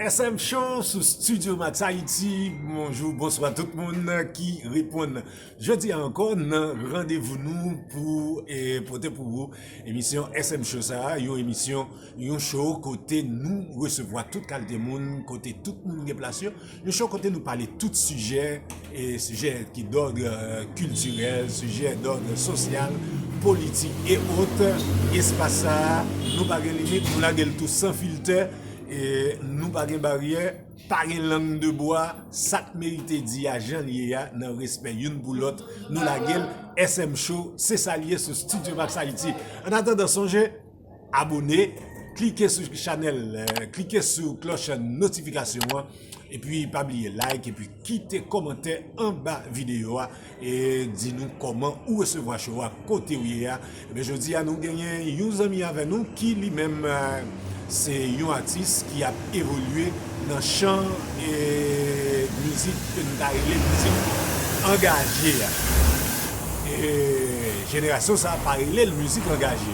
SM show sou studio max haiti bonjou bonswa tout moun ki reponn jodi anko nan randevou nou pou pote pou ou emisyon SM show sa a yon emisyon yon show kote nou resevwa tout kalte moun kote tout moun gen plas yo. Yon show kote nou pale tout sijè, sijè ki dòdre kiltirèl, sijè dòdre sosyal, politik e ot. Espas sa a, nou pa gen limit, nou lage l tou san filtè, nou pa gen baryè, pa gen lang de bwa, sa k merite di a jan l ye a nan respè youn pou lòt, nou lage l. SM Show, se sa l ye sou Studiomaxhaiti. Annatandan, sonje! Abone, klike sou chanèl, klike sou klòch notifikasyon an, epi pa bliye like epi kite kòmantè anba videyo a e di nou kòman ou resevwa show a kote ou ye a. Ebyen jodi a nou genyen yon zanmi avè nou ki li menm se yon atis ki ap evolye Nan chan mizik ke nou ta rele mizik angaje a, jenerasyon sa pa rele l mizik angaje.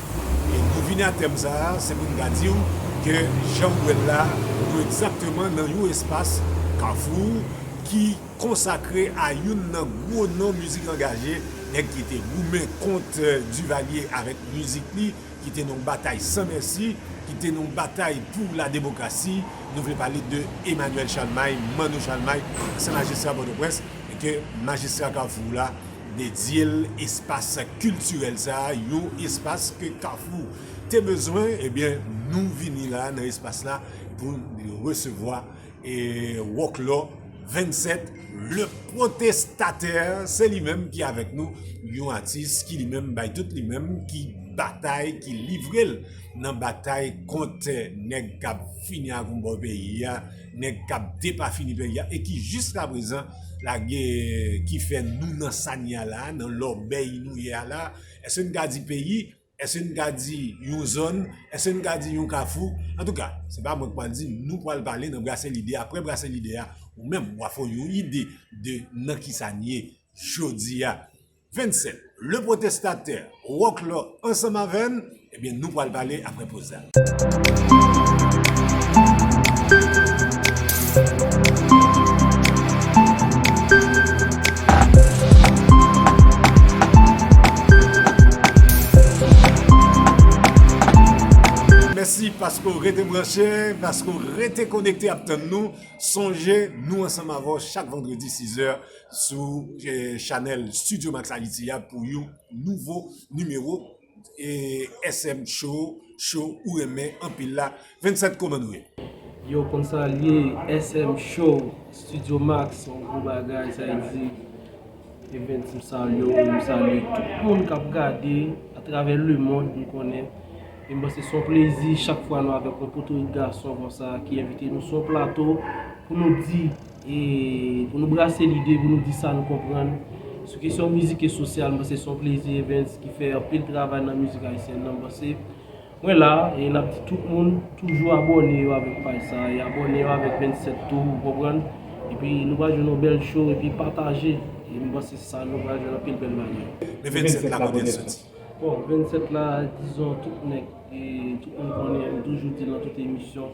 E pou n vini a tèm sa a, se pou n ta di w ke jan w wè l la, nou egzakteman nan yon espas, kafou, ki konsakre a youn nan gwo non mizik angaje, nèg ki te goumen kont Duvalier avèk mizik li, ki te nan yon batay san mèsi, ki te nan yon batay pou lademokrasi, nou vle pale de Emmanuel Chalmay, Manno Chalmay, ansyen majistra Pòtoprens, e ke majistra Kafou la dedye l espas kiltirèl sa a, yon espas ke Kafou te bezwen, ebyen nou vini la nan espas la pou n resevwa. E Wòklò 27, Le Protestataire, se li menm ki avèk nou, yon atis ki li menm bay tout li menm, ki batay, ki livre l nan batay kont nèg k ap fini ak yon bò peyi a, nèg k ap depafini peyi a e ki jiskaprezan lage, ki fè nou nan sa n ye a la a, nan lòbèy nou ye a la a. Èske n ka di peyi. Èske n ka di yon zòn? Èske n ka di yon kafou? Antouka, se pa mwen k pral di, nou pral pale nan brase lide. Aprè brase lide a, ou menm w a fè w yon ide de nan kisa n ye jodi a. Vennsè, Le Protestataire, Roclor ansanm avè n, ebyen nou pral pale aprè poz la. Mèsi paske w rete branche, paske w rete konekte ap tann nou. Sonje nou ansanm avè w chak vandredi sizè sou chanèl Studio Max Haiti a pou yon nouvo nimewo. SM show show ou renmen anpil la 27 koman nou ye. Yow konn sa l ye SM show studio max yon gwo bagay sa e di evens m salye w m salye tout moun kap gade atravè lemond m konnen e m panse son plezi chak fwa nou avèk yon potorik gason konsa ki envite nou sou yon plato pou nou di. E pou nou brase lide, pou nou di sa nou konprann. Sou kesyon mizik e sosyal, m panse se yon plezi Evens ki fè anpil travay nan mizik ayisyèn nan. M panse mwen la e n ap di tout moun toujou abòne yo avèk paj sa e abòne yo avèk 27 tou, ou konprann. Epi nou pral jwenn yon bèl show epi pataje. E m panse se sa nou pral jwenn anpil bèl bagay. Men 27 la kote l soti? Bon, 27 la dizon tout nèg e tout moun konnen, m toujou di l nan tout emisyon.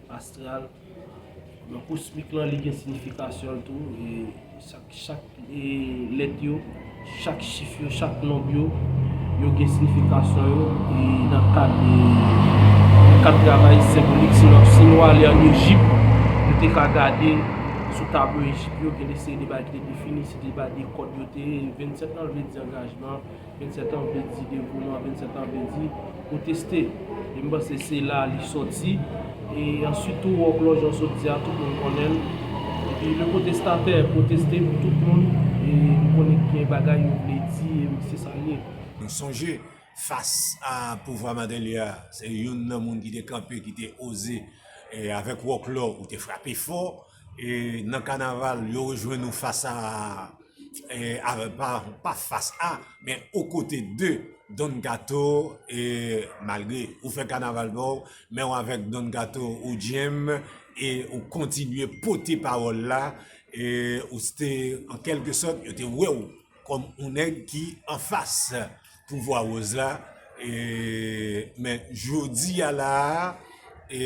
Astral, nan kosmik lan li gen sinifikasyon l tou, chak lèt yo, chak chif yo, chak nonb yo, yo gen sinifikasyon yo, e nan kad travay senbolik, si nou ale an Ejip, nou te ka gade sou tablo Ejip yo, gen de seri de bagay ki te defini, se te bagay de kòd yo te ye, 27 lan vle di angajman. 27 an vle di devouman, 27 an vle di ou teste. E m panse se la li soti. E answit tou òklò jan w sot di a tout moun konnen l. Epi le pwotestatè pwoteste pou tout moun e m konnen ki gen bagay yo vle di e wi se sa l ye. M sonje fas a pouvwa Martelly a se youn nan moun ki te kanpe ki te oze avèk wòklò ou te frape fò. E nan kanaval yo rejwenn ou fas a a pa fas a men o kote de Don Kato e malgre ou fè kanaval pa w men w avèk Don Kato ou djenm e ou kontinye pote pawòl la e ou se te an kèlke sòt yo te wè w kòm on nèg ki anfas pouvwa woz la e men jodi a la a e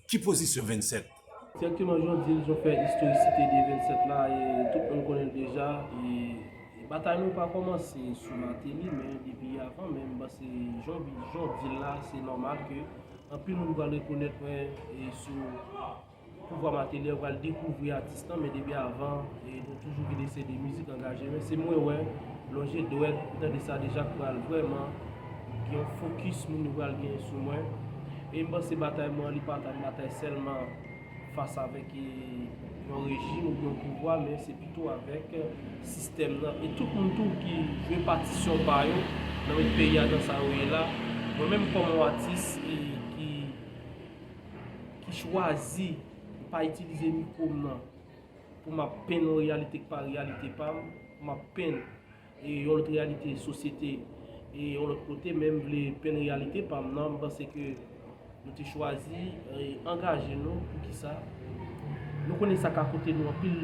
ki pozisyon 27 Direkteman jan w di l, jan w fè istorisite de 27 la, tout moun konnen l deja. Batay nou pa kòmanse sou Mateli men depi avan menm. Pase jan w di l la, se nòmal ke anpil moun pral rekonèt mwen sou pouvwa Mateli, yo pral dekouvri atis lan. Men depi avan, nou toujou gen de seri de mizik angaje. Men se mwen wè, lonje dwèt, ou tande sa deja, k pral vrèman gen yon fokis moun yo pral gen sou mwen. E m panse batay mwen an li pa ta yon batay sèlman fas avèk yon rejim oubyen yon pouvwa men se pito avèk sistèm nan e tout moun tou ki jwe patisyon pa yo nan met peyi a nan sa yo ye la. Mwen menm kòm yon atis ki chwazi m pa itilize mikwo m nan pou m ap penn yon reyalite ki pa reyalite pa m, pou m ap penn E yon lòt reyalite sosyete e yon lòt kote men m vle penn reyalite pa m nan, m panse ke nou te chwazi e angaje nou poukisa nou konnen sa ka koute nou anpil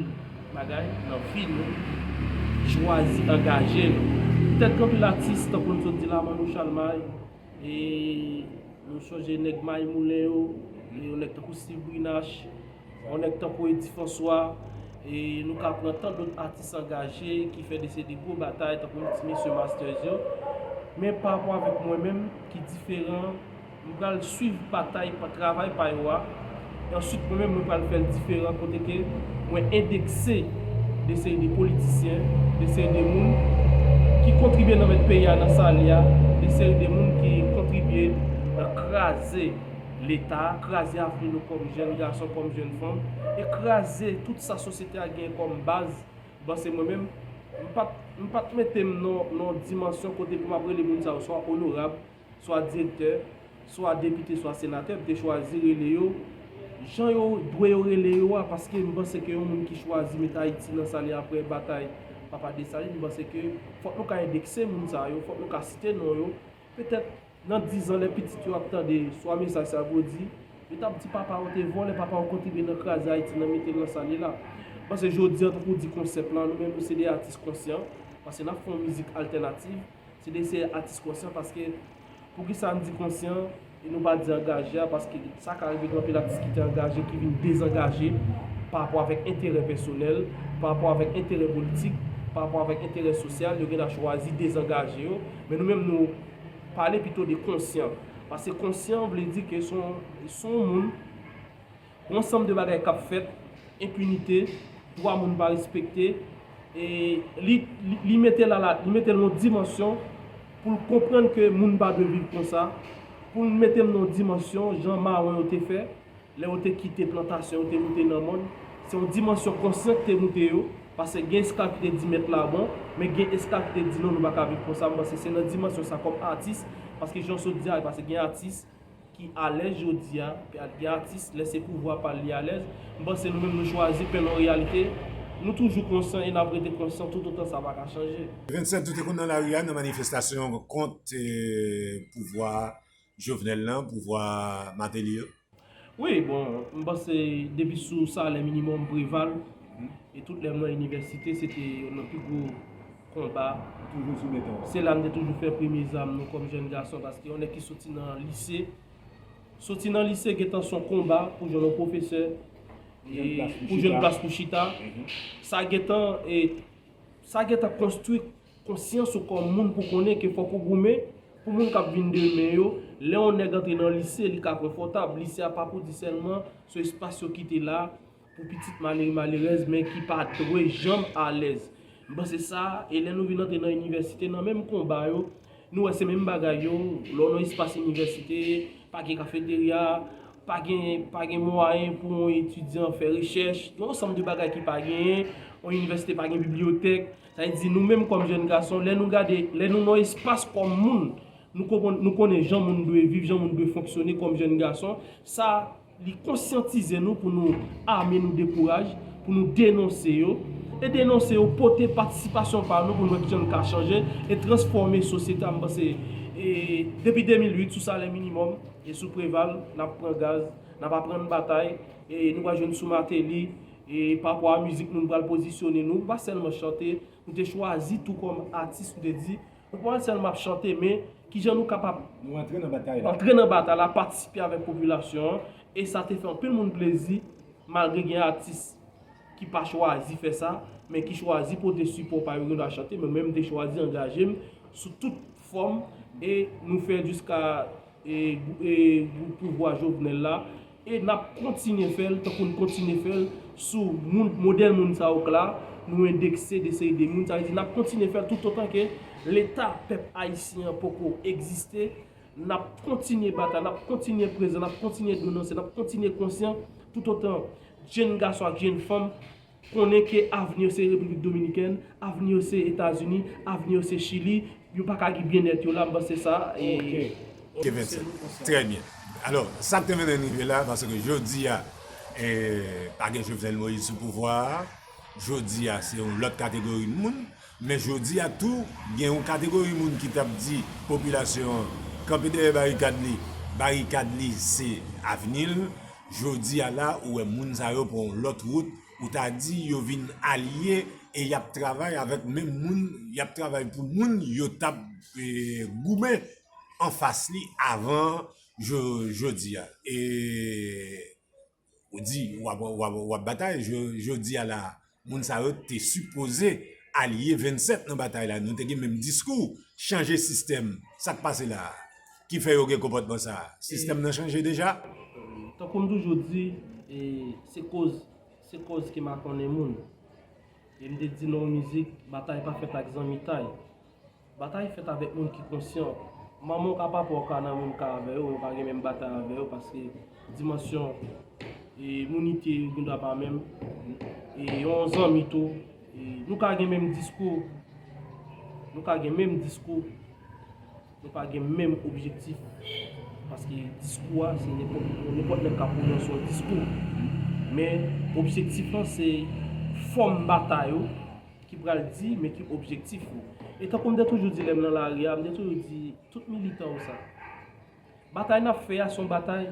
bagay nan vi nou chwazi angaje nou petèt gen anpil atis tankou m sot di la Manno Chalmay e nou sonje nèg May Moulen yo e yon nèg tankou Stiv Brinache Yon nèg tankou Eddy François, e nou ka pran tan dot atis angaje ki fè de se de gwo batay tankou nou ti mesye Masters yo. Men pa rapò avèk mwen menm ki diferan, m pral swiv batay pa travay pa yo a, e answit mwen menm mwen pral fè l diferan kote ke mwen endekse de seri de politisyen, de seri de moun ki kontribye nan mèt peyi a nan sa l ye a, de seri de moun ki kontribye nan kraze. Leta, kraze avni nou kòm jèn gason, kòm jèn fanm, e kraze tout sa sosyete a genyen kòm baz, bon se mwen menm, m pa t, m pa t mete m nan yon dimansyon kote pou m ap rele moun sa yo swa onorab, swa direktè, swa depite, swa senatè, m te chwazi rele yo jan yo dwe yo rele yo a, paske m panse ke yon moun ki chwazi mete Ayiti nan sa li apre batay Papa Desalin, m panse ke fòk nou ka endekse moun sa yo, fòk nou ka site non yo, Petèt, nan dizan, lè pitit yo ap tande swa mesaj sa pou w di, yo t ap di papa yo te vòlè, papa yo kontribye nan kraze Ayiti, nan mete l nan sa li la. M panse jodi an, tankou w di konsèp lan, nou menm nou se de atis konsyan, paske n ap fè yon mizik altènativ, se de se atis konsyan paske, poukisa m di konsyan? E nou pa di angaje a paske sa ka rive gen anpil atis ki te angaje ki vin dezangaje pa rapò avèk enterè pèsonèl, pa rapò avèk enterè politik, pa rapò avèk enterè sosyal, yo gen dwa chwazi dezangaje yo. Men nou menm nou pale pito de konsyan. Paske konsyan vle di ke se yon moun. Gen yon sanm de bagay k ap fèt, enpinite, dwa moun pa respekte, e li mete l ala, li mete l nan yon dimansyon pou l konprann ke moun pa dwe viv konsa, pou l mete l nan yon dimansyon jan mawon yo te fè, lè yo te kite plantasyon yo te moute nan mòn, se yon dimansyon konsyan ki te moute yo, pase gen esklav ki te di mèt la bon, men gen esklav ki te di non nou pa ka viv konsa, m panse se nan dimansyon sa kòm atis, paske jan w sot di a, pase gen atis, ki alèz jodi a, gad gen atis lè se pouvwa pal li alèz, m panse nou menm nou chwazi pè non reyalite, nou toujou konsan e nap rete konsan toutotan sa paka chanje. 27 nou te konn nan lari a nan manifestasyon kont pouvwa Jovenel lan, pouvwa Martelly yo. Wi bon m panse depi sou salè minimòm Preval e tout lè mwen inivèsite se te yonn nan pi gwo konba se la m te toujou fè premye zam mwen kòm jèn gason paske yon nèg ki soti nan lise soti nan lise gentan s on konba pou jwenn yon pwofesè pou jwenn plas pou chita sa gentan sa gentan konstwi Konsyans ou kòm moun pou konnen ke fòk ou goumen pou moun kap vin demen yo, lè yon nèg antre nan lise li ka konfòtab, lise a pa pou di sèlman sou espas yo kite la pou pitit malere malerèz men ki pa dwe janm alèz. M panse sa, e lè nou vin antre nan inivèsite nan menm konba yo, nou wè se menm bagay yo, lè w nan espas inivèsite, pa gen kafeterya, pa gen pa gen mwayen pou yon etidyan fè rechèch, gen yon ansanm de bagay ki pa genyen, yon inivèsite pa gen bibliyotèk. Sa vle di nou menm kòm jèn gason, lè nou gade, lè nou nan espas kòm moun, nou konprann, nou konnen jan moun dwe viv, jan moun dwe fonksyone kòm jèn gason, sa li konsyantize nou pou nou ame nou de kouraj, pou nou denonse yo, e denonse yo pote patisipasyon pa nou pou nou wè kijan nou ka chanje e transfòme sosyete a, m panse e depi 2008 sou salè minimòm e sou Preval n ap pran gaz, n ap aprann batay e nou pral jwenn sou Mateli. E pa rapò a mizik nou, nou pral pozisyone nou. Nou pa sèlman chante, nou te chwazi tou kòm atis nou te di, nou pa sèlman ap chante men, kijan nou kapab. Nou antre nan batay la. Antre nan batay la, patisipe avèk popilasyon an. E sa te fè anpil moun plezi, malgre gen atis ki pa chwazi fè sa, men ki chwazi pote sipò pa yo, gen dwa chante. Mwen menm m te chwazi angaje m sou tout fòm e nou fè jiska e pouvwa Jovenel la E nap kontinye fèl tankou n kontinye fèl sou moun modèl moun sa yo k la, nou endekse de seri de moun, sa vle di nap kontinye fèl toutotan ke leta pèp ayisyen an poko egziste, nap kontinye batay, nap kontinye prezan, nap kontinye denonse, nap kontinye konsyan toutotan jenn gason ak jenn fanm Konnen ke avni yo se Repiblik Dominikèn, avni yo se Etazini, avni yo se Chili, yo pa ka gen byennèt yo la, m panse sa e. Ke 27. Trè byen. Alò, sa k te mennen n rive la a, paske jodi a, pa gen Jovenel Moïse sou pouvwa a, jodi a se yon lòt kategori moun, Men jodi a tou, gen yon kategori moun ki t ap di popilasyon an kanpe dèyè barikad li, barikad li se avni l. Jodi a la, ou wè moun sa yo pran yon lòt wout, ou ta di yo vin alye e y ap travay avèk menm moun, y ap travay pou moun yo t ap goumen anfas li avan jodi a. Ou di ou ap batay jodi a la a. Moun sa yo te sipoze alye 27 nan batay la. Nou te gen menm diskou. Chanje sistèm. Sa k pase la a? Ki fè yo gen konpòtman sa a? Sistèm nan chanje deja? Tankou m toujou di, se koz se koz ki makonnen moun. E m te di nan yon mizik, batay pa fèt ak zanmitay. Batay fèt avèk moun ki konsyan. Manman w ka papa w ka nan menm ka avè yo, men w pa gen menm batay avè yo paske dimansyon imunite yo gen dwa pa menm. E yon zanmi tou, nou ka gen menm diskou, nou ka gen menm diskou, nou pa gen menm objektif paske diskou a se nenpòt moun, nenpòt nèg ka pwononse yon diskou. Men objektif lan se fòm batay ou ki pral di men ki objektif yo. E tankou m te toujou di lè m nan lari a, m te toujou di tout militan yo sa. Batay n ap fè a se yon batay,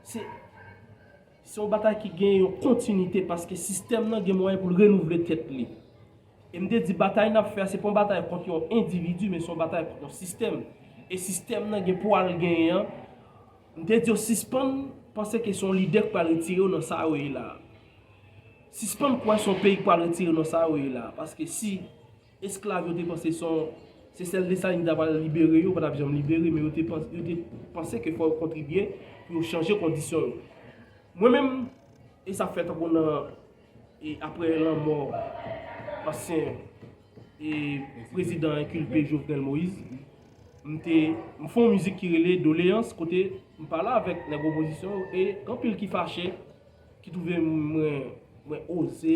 se yon batay ki gen yon kontinite paske sistèm nan gen mwayen pou l renouvle tèt li. E m te di batay n ap fè a se pa yon batay kont yon endividi men se yon batay kont yon sistèm. E sistèm nan gen pwa l genyen an, m te di yo sispann panse ke se yon lidè k pral retire yo nan sa yo ye la a. Sispann kwè son peyi k pral retire nou sa yo ye la paske si esklav yo te panse son se sèl Desalin ki ta pral libere yo pa tap janm libere men yo te panse ke fò yo kontribye pou yo chanje kondisyon yo mwen menm e sa fè tankou nan e aprè lanmò ansyen e prezidan enkilpe Jovenel Moïse m te m fon mizik ki rele Doleans kote m pale avèk nèg opozisyon yo e anpil ki fache. ki twouve mwen mwen oze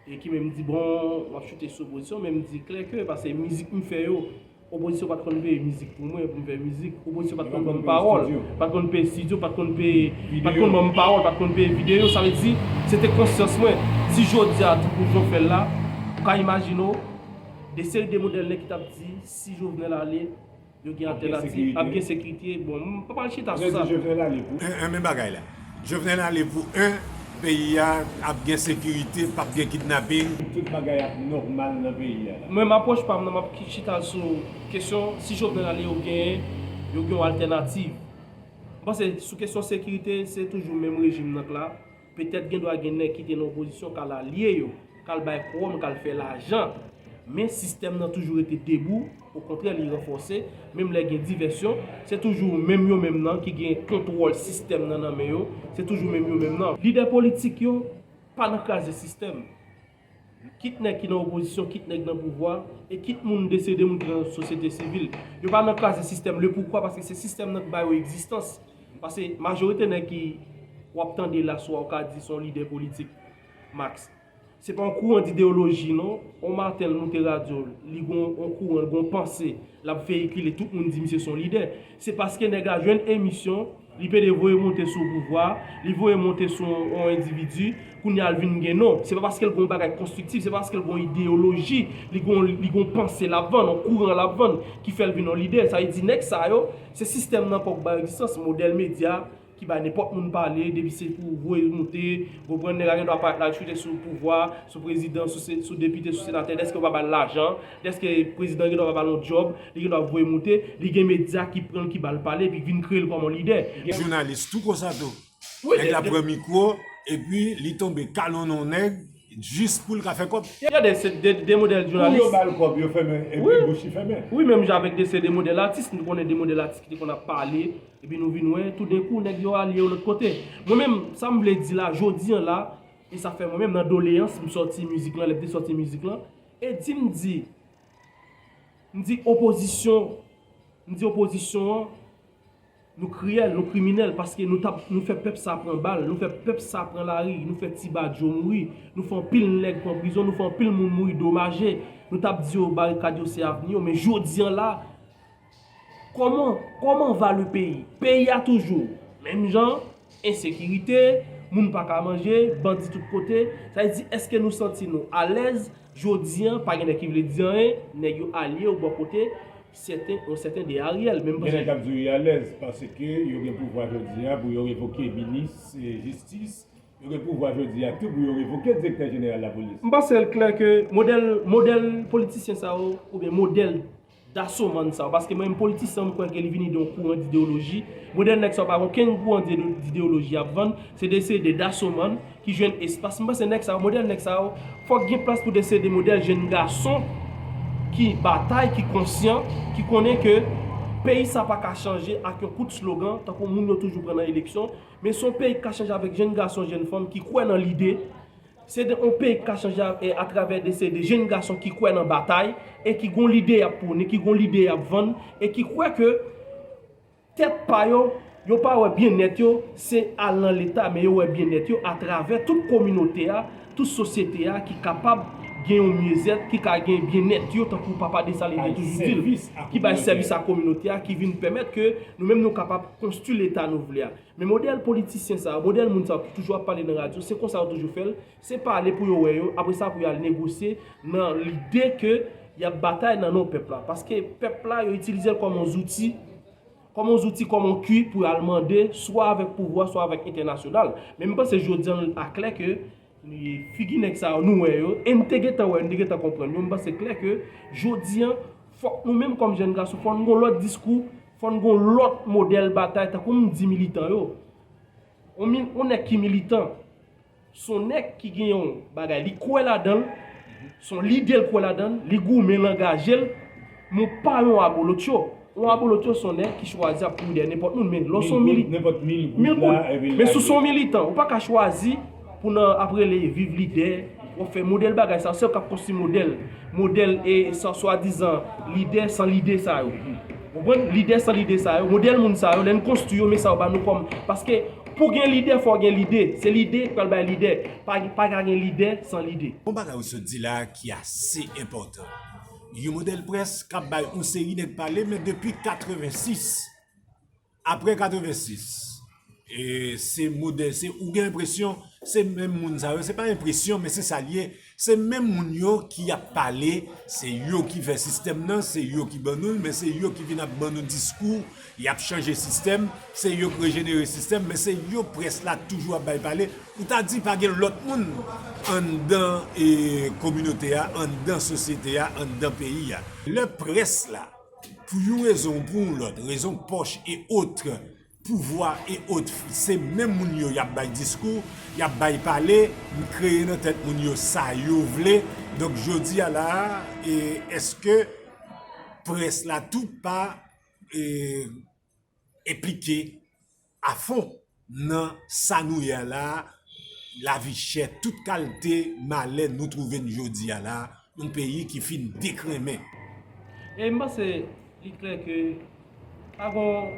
e ki menm di bon m ap choute sou opozisyon men m di klè ke pase mizik m fè yo opozisyon pat konn peye mizik pou mwen pou m fè mizik opozisyon pat konn ban m pawòl pat konn peye stidyo pat konn peye pat konn ban m pawòl pat konn peye videyo sa vle di se te konsyans mwen si jodi a tankou jan w fè l la ou ka imajine w de seri de modèl nèg ki t ap di si Jovenel ale Yo gen altènativ, ap gen sekirite, bon m pa pral chita sou sa non. Hein hein men bagay la. Jovenel ale pou hein peyi a ap gen sekirite pap gen kidnapping. Tout bagay ap nòmal nan peyi a la. Mwen m apwòch pam nan map chita sou kesyon si Jovenel ale yo gen yo gen yon altènativ. M panse sou kesyon sekirite se toujou menm rejim nan k la. Petèt gendwa gen nèg ki te nan opozisyon k al alye yo, k al bay kowòm, k al fè lajan. Men sistèm nan toujou rete debou, okontrè li ranfòse, menm lè gen divèsyon, se toujou menm yo menm nan ki gen kontwòl sistèm nan nan men yo, se toujou menm yo menm nan. Lidè politik yo pa nan kraze sistèm. Kit nèg ki nan opozisyon, kit nèg nan pouvwa, e kit moun desede, moun ki nan sosyete sivil. Yo pa nan kraze sistèm. Lepoukwa? Paske se sistèm nan ki ba yo egzistans. Paske majorite nèg ki w ap tande la swa ou ka di se yon lidè politik, Max. Se pa yon kouran dideyoloji non. Yon maten l moute radyo l, li gen yon kouran, l gen yon panse l ap veyikile, tout moun di misye se yon lidè. Se paske nèg la jwenn emisyon Li pede voye monte sou pouvwa, li voye monte sou yon endividi, kounye a l vin gen non. Se pa paske l gen yon bagay konstriktif, se pa paske l gen yon ideyoloji, li gen yon panse l ap vann, yon kouran l ap vann ki fè l vin yon lidè. Sa vle di nèg sa yo, se sistèm nan ankò ki ba yo egzistans, modèl medya ki bay nenpòt moun pale, depi se pou voye monte, ou konprann, nèg la gen dwa parèt la l chwite sou pouvwa, sou prezidan, sou depite, sou senatè, dèske yo pa ba l lajan, Eske prezidan gen dwa pa ba l yon djòb, li gen dwa voye moute, li gen medya ki pran l ki ba l pale epi ki vin kreye l kòm yon lidè. Gen jounalis tou konsa tou. Nèg la pran mikwo epi li tonbe kalonnen yon nèg jis pou l ka fè kòb. Gen de se de modèl jounalis. Kou yo ba l kòb yo fèmen epi bouch li fèmen. Wi menm jan avèk de se de modèl atis nou konnen de modèl atis ki te konn ap pale epi nou vin wè toudenkou nèg yo ale yon lòt kote. Mwen menm sa m vle di la jodi an la e sa fè mwen menm nan doleyans m sòti mizik lan lè m te sòti mizik lan E di m di, m di opozisyon, m di opozisyon an, nou kriyèl, nou kriminèl paske nou tap, nou fè pèp sa pran bal, nou fè pèp sa pran lari, nou fè ti badyo mouri, nou fè anpil nèg pran prizon, nou fè anpil moun mouri domaje, nou tap di yo barikad yo se avni yo, men jodi an la, Koman Koman va le peyi? Peyi a toujou menm jan, ensekirite, moun pa ka manje, bandi tout kote, sa vle di eske nou santi nou alèz jodi an pa gen nèg ki vle di anyen, nèg yo alye yo bò kote sèten yon sèten de Ariel menm Gen nèg k ap di w yo alèz paske yo gen pouvwa jodi a pou yo revoke minis jistis, yo gen pouvwa jodi a tou pou yo revoke direktè jeneral lapolis. M panse l klè ke modèl modèl politisyen sa yo oubyen modèl Daso man sa yo paske mwen menm politisyen m kwè ke li vini de yon kouran d'ideoloji modèl nèg sa yo pa gen okenn kouran d'ideoloji yap vann se de se de daso man ki jwenn espas m panse nèg sa yo modèl nèg sa yo fòk gen plas pou de se de modèl jenn gason ki batay ki konsyan ki konnen ke peyi sa pa ka chanje ak yon kout slogan tankou moun yo toujou pran nan eleksyon men son peyi ki ka chanje avèk jenn gason jenn fanm ki kwè nan lide. Se de yon peyi ki ka chanje a travè de se de jenn gason ki kwè nan batay e ki gon lide yap pwone, ki gon lide yap vann e ki kwè ke tèt pa yo, yo pa wè byen nèt yo se al nan leta men yo wè byen nèt yo a travè tout kominote a, tout sosyete a ki kapab gen yon myezèt, ki ka gen byen nèt yo tankou papa Desalin te toujou dil, ki bay sèvis a kominote a, ki vin pèmèt ke nou menm nou kapab konstwi leta nou vle a. Men modèl politisyen sa yo, modèl moun sa yo ki toujou ap pale nan radyo, se konsa yo toujou fè l, se pale pou yo wè yo, apre sa pou yo al negosye nan lide ke y ap batay nan non pèp la. Paske pèp la yo itilize l kòm yon zouti, kòm yon zouti, kòm yon kwi pou yo al mande swa avèk pouvwa, swa avèk entènasyonal. Men m panse jodi an l a klè ke figi nèg sa yo nou wè yo, e n te gentan wè, n te gentan konprann yo, m panse klè ke jodi an fòk nou menm kòm jèn gason fòk nou gen yon lòt diskou, Fò n gon lòt modèl batay tankou m di militan yo. On nèg ki militan, son nèg ki gen yon bagay li kwè ladan l, son lide l kwè ladan l, li goumen, l angaje l, men w pa yon abolotcho. Yon abolotcho son nèg ki chwazi ap kouri dèyè nenpòt moun men lè w son militan, men si w son militan ou pa ka chwazi. Pou nan ap rele viv lide, wap fè modèl bagay sa, sew kap konstwi modèl, modèl e san swadizan lidè san lide sa yo. Ou konprann? Lidè san lide sa yo, modèl moun sa yo, lè n konstwi yo men sa yo ba nou kòm, paske pou gen lidè fò gen lide, se lide ki pral bay lidè, pa pa ka gen lidè san lide. Gon bagay ou sot di la ki ase enpòtan, yon modèl près kap bay yon seri nèg pale men depi 86. Aprè 86 se modèl se ou gen enpresyon se menm moun sa yo se pa enpresyon men se sa l ye se menm moun yo ki ap pale se yo ki fè sistèm nan se yo ki ban nou l men se yo ki vin ap ban nou diskou y ap chanje sistèm se yo k rejenere sistèm men se yo près la toujou ap bay pale ou ta di pa gen lòt moun anndan kominote a anndan sosyete a anndan peyi a lè près la. Pou yon rezon ou pou yon lòt, rezon pòch e otre, pouvwa e otre, se menm moun yo y ap bay diskou, y ap bay pale, m kreye nan tèt moun yo sa yo vle. Donk jodi a la a, èske près la tou pa enplike? afon nan sa nou ye a la a, lavi chè, tout kalte malè nou twouve n jodi a la a, yon peyi ki fin dekrenmen. E m panse li klè ke pa gon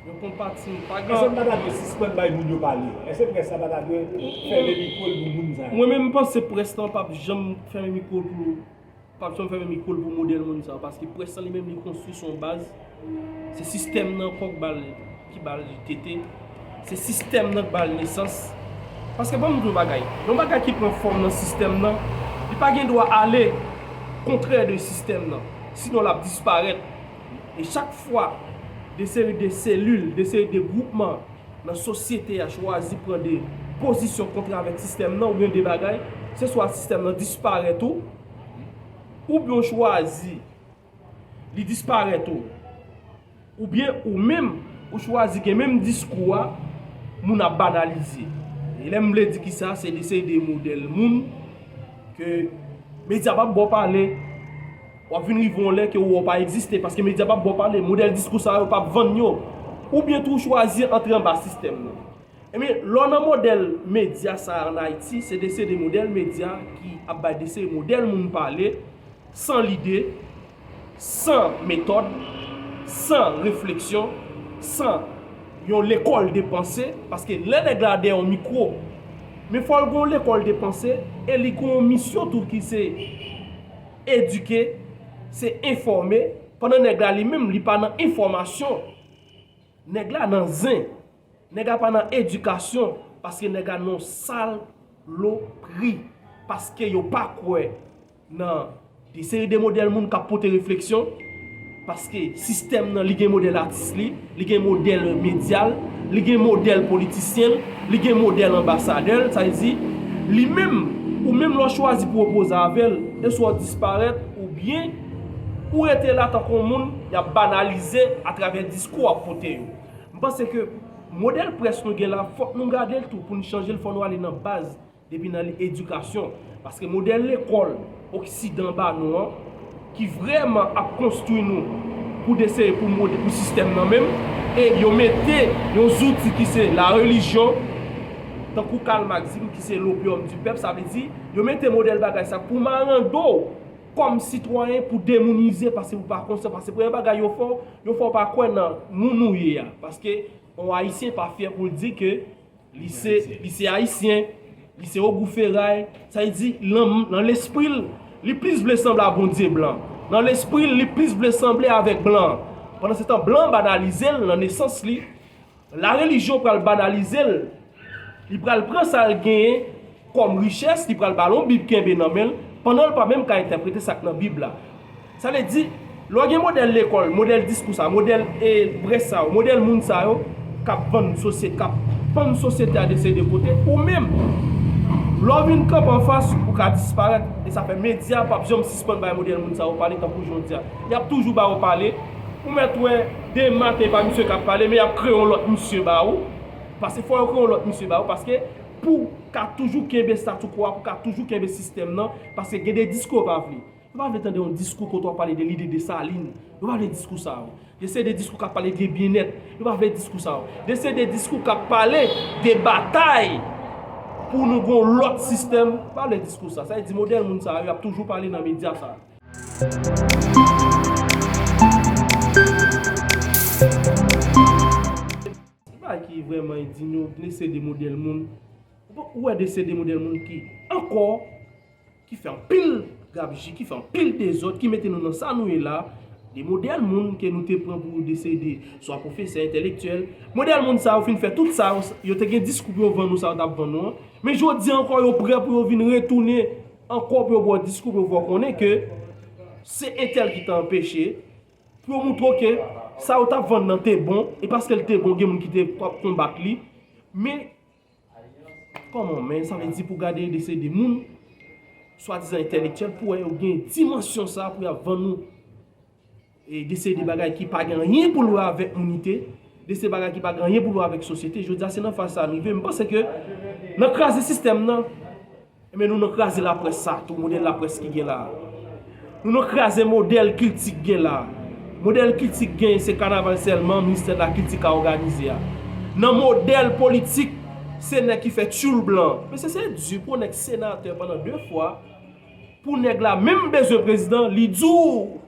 yon konpatisyon, pa gen. Èske m pa ta dwe sispann bay moun yo pale? Èske près la pa ta dwe fèmen mikwo l pou moun sa yo? Mwen menm m panse près lan pap janm fèmen mikwo l pou. Papson fèmen mikwo l pou modèl moun sa paske près lan li menm li konstwi sou yon baz se sistèm nan ankò k bal ki bal li tete se sistèm nan k bal nesans paske banm di w yon bagay yon bagay ki pran fòm nan sistèm nan li pa gen dwa ale kontrè de sistèm nan sinon l ap disparèt e chak fwa de seri de selil de seri de gwoupman. Nan sosyete a chwazi pran de pozisyon kontre avèk sistèm nan oubyen de bagay, se swa sistèm nan disparèt ou, oubyen ou chwazi li disparèt ou, oubyen ou menm ou chwazi gen menm diskou a, moun ap banalize. E lè m vle di kisa, se de seri de modèl moun ke medya p ap ba w pale. W ap vin rive yon lè ke ou wè w pa egziste paske medya p ap ba w pale, modèl diskou sa yo p ap vann yo. Oubyen tou ou chwazi antre anba sistèm nan. Ebyen, lè w nan modèl medya sa a an Ayiti, se de se de modèl medya ki ap bay de se modèl moun pale, san lide, san metòd, san refleksyon, san yon lekòl de panse, paske lè nèg la dèyè yon mikwo, men fò l gen yon lekòl de panse e li gen yon misyon tou ki se. Edike, se enfòme, pandan nèg la li menm li pa nan enfòmasyon. Nèg la nan zen. Nèg la pa nan edikasyon, paske nèg la nan salopri. Paske yo pa kwè nan de seri de modèl moun k ap pote refleksyon. Paske sistèm nan li gen modèl atis li, li gen modèl medya l, li gen modèl politisyen l, li gen modèl anbasadè l, sa vle di, li menm, ou menm lè w chwazi pou w opoze avè l, e swa w disparèt oubyen ou rete la tankou yon moun y ap banalize atravè diskou w ap pote yo. M panse ke modèl près nou gen la fòk nou gade l tou pou n chanje l fò nou ale nan baz. Depi nan edikasyon, paske modèl lekòl oksidan ba nou an, ki vrèman ap konstwi nou pou deseye pou mode pou sistèm nan menm, e yo mete yon zouti ki se la relijyon, tankou Karl Marx di nou ki se l'opium du peuple, sa vle di, yo mete modèl bagay sa pou marando w kòm sitwayen, pou demounize, paske ou pa konsyan, paske premye bagay yo fè w, yo fè w pa kwè nan moun ou ye a, paske yon Ayisyen pa fyè pou l di ke. Li se, li se Ayisyen, li se Ogou Feray, sa vle di nan, nan lespri l, li plis vle sanble a Bondye blan. Nan lespri l, li plis vle sanble avèk blan an. Pandansetan blan an banalize l nan nesans li, larelijyon pral banalize l, li pral pran sa l genyen kòm richès li pral ba l yon Bib kenbe nan men l pandan l pa menm ka entèprete sa k nan Bib la. Sa vle di, lè w gen modèl lekòl, modèl diskou sa a, modèl brèch sa yo, modèl moun sa yo k ap vann sosyete, k ap pann sosyete a de se de kote, ou menm, lè w vin kanpe anfas, ou ka disparèt. E sa fè medya pa p janm sispann bay modèl moun sa yo pale tankou jodi a. Y ap toujou ba yo pale. Ou mèt wè demen se pa misye k ap pale men y ap kreye yon lòt misye ba ou, paske fò yo kreye yon lòt misye ba ou paske. Pou w ka toujou kenbe statu quo a, pou w ka toujou kenbe sistèm nan, paske gen de diskou yo pa vle. Yo pa vle tande yon diskou kote w ap pale de lide Desalin. Yo pa vle diskou sa yo. De se de diskou k ap pale de byennèt. Yo pa vle diskou sa yo. De se de diskou k ap pale de batay pou nou gen yon lòt sistèm. Yo pa vle diskou sa. Sa vle di modèl moun sa yo y ap toujou pale nan medya sa yo. Ki bagay ki vrèman endign yo, dese de modèl moun, ou wè dese de modèl moun ki ankò, ki fè anpil gabji, ki fè anpil dezòd, ki mete nou nan sa nou ye la, de modèl moun ke nou te pran pou dese de swa pwofesè, entèlektyèl, modèl moun sa yo fin fè tout sa yo, yo te gen diskou pou yo vann nou sa yo t ap vann nou an, men jodi an ankò yo prè pou yo vin retounen ankò pou yo ba w diskou pou yo fè w konnen ke se entèl ki te anpeche. Pou yo moutre w ke sa yo t ap vann nan te bon, e paske l te bon gen moun ki te konbat li. Men, kòman w men, sa vle di pou gade yon dese de moun, swadizan entèlektyèl, pou wè yo gen dimansyon sa pou y ap vann nou e dese de bagay ki pa gen anyen pou l wè avèk mounite, dese bagay ki pa gen anyen pou l wè avèk sosyete. Jodi a se nan faz sa a n rive. M panse ke nan kraze sistèm nan. Enben nou nan kraze laprès sa tou, modèl laprès ki gen la a. Nou nan kraze modèl kilti k gen la a. Modèl kilti k gen se kanaval sèlman ministè lakilti ka òganize a. Nan modèl politik, se nèg ki fè tyoul blan. Mesye se di pou yon nèg senatè pandan 2 fwa, pou nèg la menm bezwen prezidan, li di w.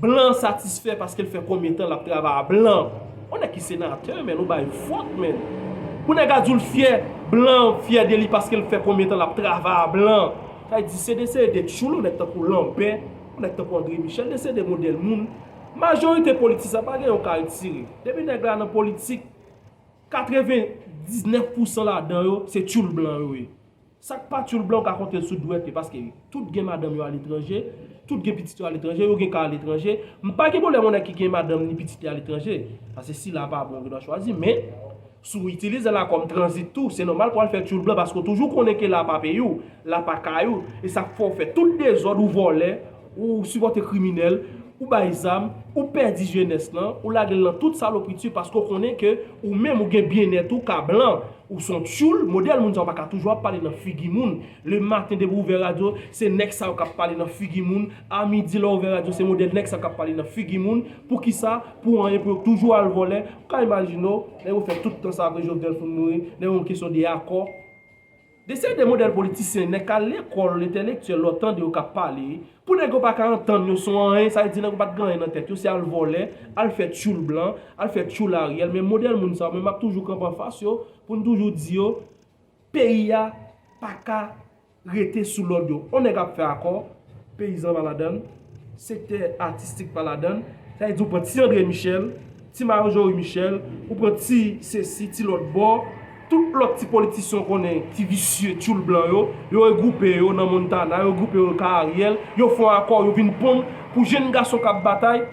Blan an satisfè paskel fè konbyen tan lap travay a blan on nèg ki senatè menn ou bay vòt menn pou nèg a diw fyè blan an fyè deli paskel fè konbyen tan lap travay a blan sa di se desede de tchoul on nèg tankou lanbè on nèg tankou andre michel desede modèl moun majorite politisyan pagen yon kal tire depi nèg la nan politik 99 pousan ladan yo se tchoul blan yo ye Sak pa tyoul blan ou ka kontel sou dwèt yo paske tout gen madanm yo aletranje, tout gen pitit yo aletranje, yo gen ka aletranje, m pa gen pwoblèm yon nèg ki gen madanm ni pitit li aletranje, pase si la pa bon yo gen dwa chwazi men si w itilize la kòm tranzit tou se nòmal pou al fè tyoul blan paske w toujou konnen ke la pa peyi w, la pa kay ou, e sak fè w fè tout dezòd ou vòlè, Ou sipòte kriminèl, ou bay zam, ou pèdi jenès lan, ou lage l nan tout salopriti paske w konnen ke ou menm ou gen byennèt ou ka blan. Ou son tyoul, modèl moun sa yo pa ka toujou ap pale nan figi moun. Le maten depi w ouvè radyo, se nèg sa yo k ap pale nan figi moun. A midi lè w ouvè radyo se modèl nèg sa k ap pale nan figi moun. Poukisa? Pou anyen pou yo k toujou al vòlè. Ou ka imajine w, nèg yo fè tout tan sa apre Jovenel fin mouri, nèg yo gen kesyon de akò. De se de modèl politisyen nèg kal lekòl entèlektyèl lè w tande yo k ap pale pou nèg yo pa ka antann yo son anyen sa vle di nèg yo pa t gen anyen nan tèt yo se al vòlè al fè tchoul blan al fè tchoul Ariel men modèl moun sa yo men m ap toujou kanpe anfas yo pou m toujou di yo peyi a pa ka rete sou lòd yo on nèg ap fè akò peyizan pa ladan l, sektè atistik pa ladan l, sa vle di ou pran ti André Michel, ti Marjorie Michel, ou pran ti sesi, ti lòt bò, tout lòt ti politisyen w konnen ki visye tchoul blan yo, yo regwoupe yo nan Montana, yo regwoupe yo ka Ariel, yo fon akò yo vin ponn pou jenn gason k ap batay,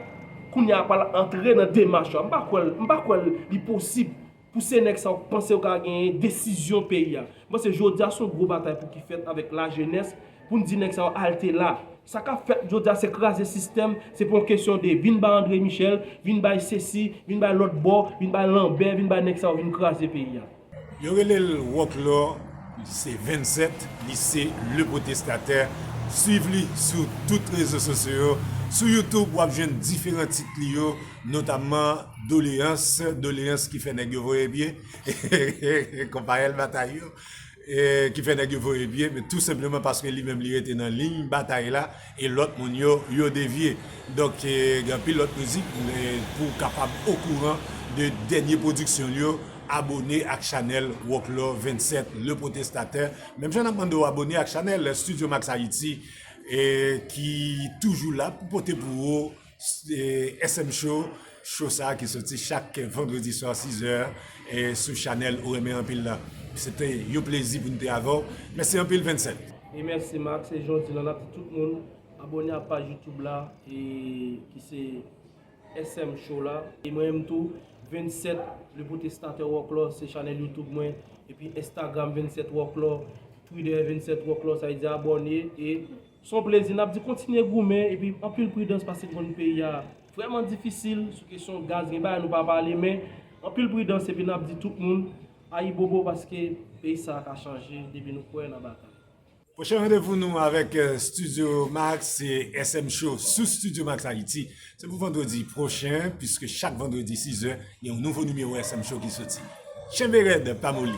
kounye a pral antre nan demach yo a, m pa kwè l, m pa kwè l li posib. Pou se nèg sa ou pansew ka genyen desizyon peyi a. Panse jodia son gwo batay pou ki fèt avèk la jenès poun di nèg sa yo alte la. Sa kap fèt jodia se kraze sistèm, se pa yon kesyon de vin bay Andre Michel, vin bay sesi, vin bay lòt bò, vin bay lanbè, vin bay nèg sa yo vin kraze peyi a. Yo rele l Roclor li se 27 li se le protestatè swiv li sou tout rezo sosyo yo sou YouTube wap jwenn diferan tit li yo. Notamman doleyans, doleyans ki fè nèg yo voye pye, konpayèl batay yo, ki fè nèg yo voye pye, men tou senpleman paske li menm li rete nan liy batay la, e lòt moun yo, yo devye. Donk, gen anpil lòt mizik, pou w kapab okouran de dènye pwodiksyon l yo, abone ak chanèl Wòklò 27, Le Protestateur, menm jan n ap mande w abone ak chanèl Studio Max Haïti, ki toujou la pou pote pou ou SM show, show sa ki soti chak vendredi swa 6 è sou chanèl ou renmen anpil la. Se te yon plezi pou nou te avèw. Mèsi anpil Vincent. E mèsi Marc, se Jean Dylan ap di tout moun abòne a paj youtube la e ki se SM show la. E mwen menm tou Vincent le protestateur Wòklò se chanèl youtube mwen epi Instagram Vincent Wòklò, Twitter Vincent Wòklò sa vle di abòne e. Son plezi nap di kontinye goumen epi anpil pridans pase konn peyi a vrèman difisil sou kesyon gaz gen bagay nou pa pale men anpil pridans epi nap di tout moun ayibobo paske peyi sa ka chanje depi nou kwè nan batay. Pwochen randevou nou avèk Studio Max se SM show sou Studio Max Haiti Se pou vandredi pwochen, piske chak vandredi sizè, gen yon nouvo nimewo SM Show ki soti. Tchenbe rèd, pa moli!